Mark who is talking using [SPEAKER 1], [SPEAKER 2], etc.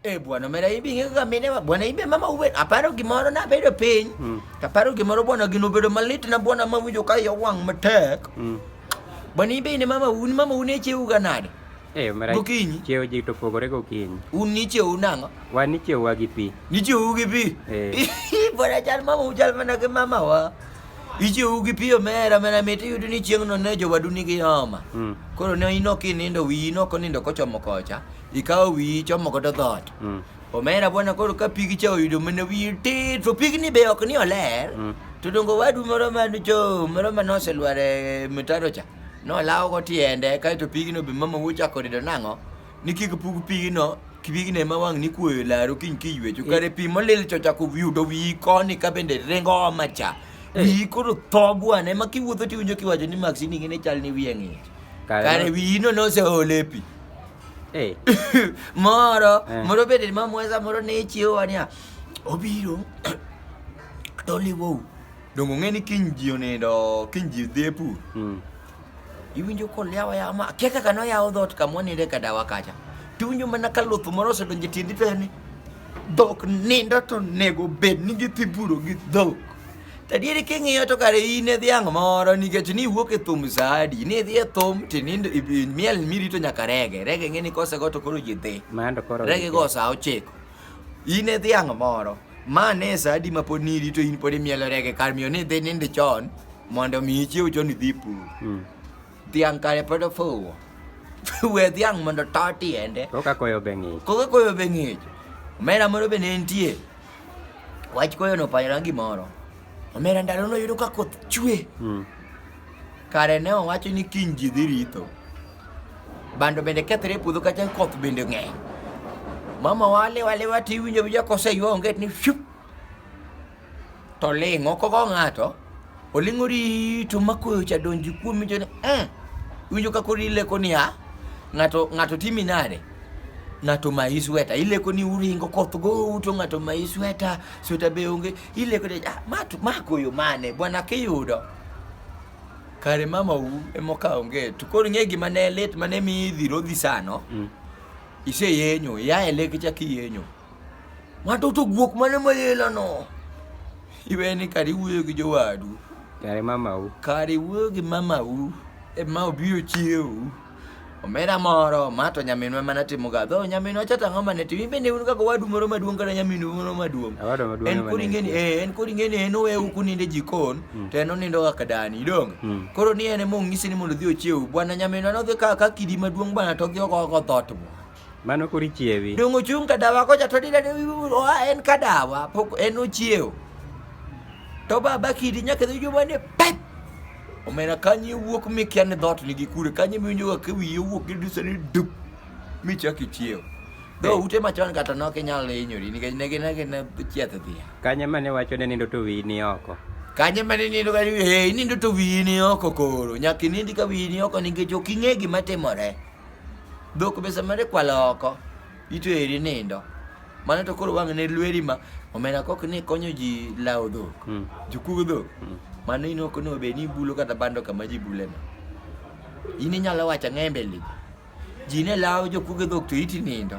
[SPEAKER 1] Eh bwana mera ibi nge ga mine ma bwana ibe mama uwe aparo gimoro na bedo piny mm. aparo gimoro bwana gino bedo malit na bwana ma winjo ka yo wang matek mm. bwana ibe ne mama un mama un eche uga nade eh mera gokinyi
[SPEAKER 2] cheo ji to
[SPEAKER 1] pogore
[SPEAKER 2] gokinyi un ni cheo nango
[SPEAKER 1] wan ni cheo wa gi
[SPEAKER 2] pi ni cheo gi pi
[SPEAKER 1] eh bwana chal mama ujal mana ke mama wa ichiwo gi piyo mera mera mit iyudo ni chieng'no ne jowadu nigi homa mm. koro ne inok inindo wiyi nok onindo kochomo kocha ikawo wiyi ichomo godo dhoot Mm. omera bwana koro ka pigi cha oyudo mana wiyi tit to pigni be ok ni oler Mm. to dongo wadu moro manocho moro manoselwar e mitaro cha nolawogo tiende kaeto pigno be mama wochako rido nang'o ni kik pug pigno pigno ema wang' ni kuoyo e laru kiny kiywecho kare pi molil cha ochako yudo wiyi koni ka bende ringo oma cha wiyi koro tho bwana ema kiwuotho tiwinjo kiwacho ni maksini ng'e ni chal ni wiye ng'ich Kare kare no- wiyino noseole pi moro eh. moro bende mamweza moro ne ichiewowa niya obiro toliwou donge ong'e ni kiny ji onindo kiny ji dhi e pur hmm. iwinjo kolyawa yawa ma akia kaka noyawo dhot kama waninde ka dawa kacha tiwinjo mana ka luth moro osedonjo e tiendi to ni dhok nindo to nego bed ni gidhi puro gi dhok Tadieri king'iyo to kare in e dhiang' moro nikech ni wuok e thum saadi ni idhi e thum to nindo miel mirito nyaka rege rege ng'e ni kosego to koro ji dhi rege go sa ochiko in e dhiang' moro ma ne e saadi ma pod nirito in pod imielo rege kar miyo ni idhi nindo chon mondo mi ichiew chon idhi pur hmm. dhiang' kare pod ofuwo we dhiang' mondo to tiende koka koyo be ng'ich
[SPEAKER 2] koka koyo be ng'ich omera
[SPEAKER 1] moro be ne nitie Wach koyo no panyra gimoro. Omera ndalo no yudo ka koth chwe. Mm. Kare ne owacho ni kiny ji dhi ritho. Bando bende kethre e puodho kacha koth bende ng'eny. Mama wale wale wati winjo winjo kose ywa onget ni shup. To ling' oko go ng'ato. Olingo rito ma koyo cha donji kuomi to ni mm, winjo ka koro ileko ni ha ng'ato ng'ato timi nade ng'ato mayi sweta ileko ni uringo koth go uto ng'ato mayi sweta sweta be onge ileko ni ah, ma to- ma koyo mane bwana kiyudo kare mama u emoka onge to koro ng'e gima ne lit mane mi idhi rodhi sano Mm. iseyenyo ya eleke cha kiyenyo ng'ato to guok mane mayelano Iwe ni kar iwuoyo gi jowadu. Kare mamau. Kar iwuoyo gi mamau e ma obiro chiewu. Omera moro, ma to nyaminwa mana timo ga. Dho nyaminwa cha tang'o mane timo. Ibe ne un kaka wadu moro maduong' kata nyaminu moro maduong'. Awado maduong' En kori ngeni eh en kori ngeni en owe u kuninde e jikon hmm. to en onindo kaka dani idong. Hmm. Koro ni en e mong'isi ni mondo odhi ochiewu. Bwana nyaminwa no dhi ka ka kidi maduong' bwana to odhi oko oko thot. Mano koro
[SPEAKER 2] ichiewi. Donge ochung' ka dawa kocha
[SPEAKER 1] to dine oa en ka dawa pok en ochiewo. To baba kidi nyaka dhi juma ni pep. Omena kanyi wuok mi kia ni dhot nigi kure kanyi mi nyoga ke wiye wuok gi disa ni dup mi chak ichiewo. Do eh. ute machon kata nok inyalo hinyori nikech ne gin agina chieth dhiya. Kanye mane wacho ne
[SPEAKER 2] nindo to wiyi ni oko. Kanye mane nindo
[SPEAKER 1] ka wiyi nindo to wiyi ni oko koro. Nyaka inindi ka wiyi ni oko nikech ok ing'e gima timore. Dhok be samare kwalo oko, ito eri nindo. Mano to koro wang'ne lweri ma omena kok ni konyo ji lawo dhok, Mm. jokug dhok. Mm. Mano in ok onego bed ni ibulo kata bando kama ji buleno. In inyalo wacho ang'e e mbele ji. Ji ne lawo jokug dhok to iti nindo.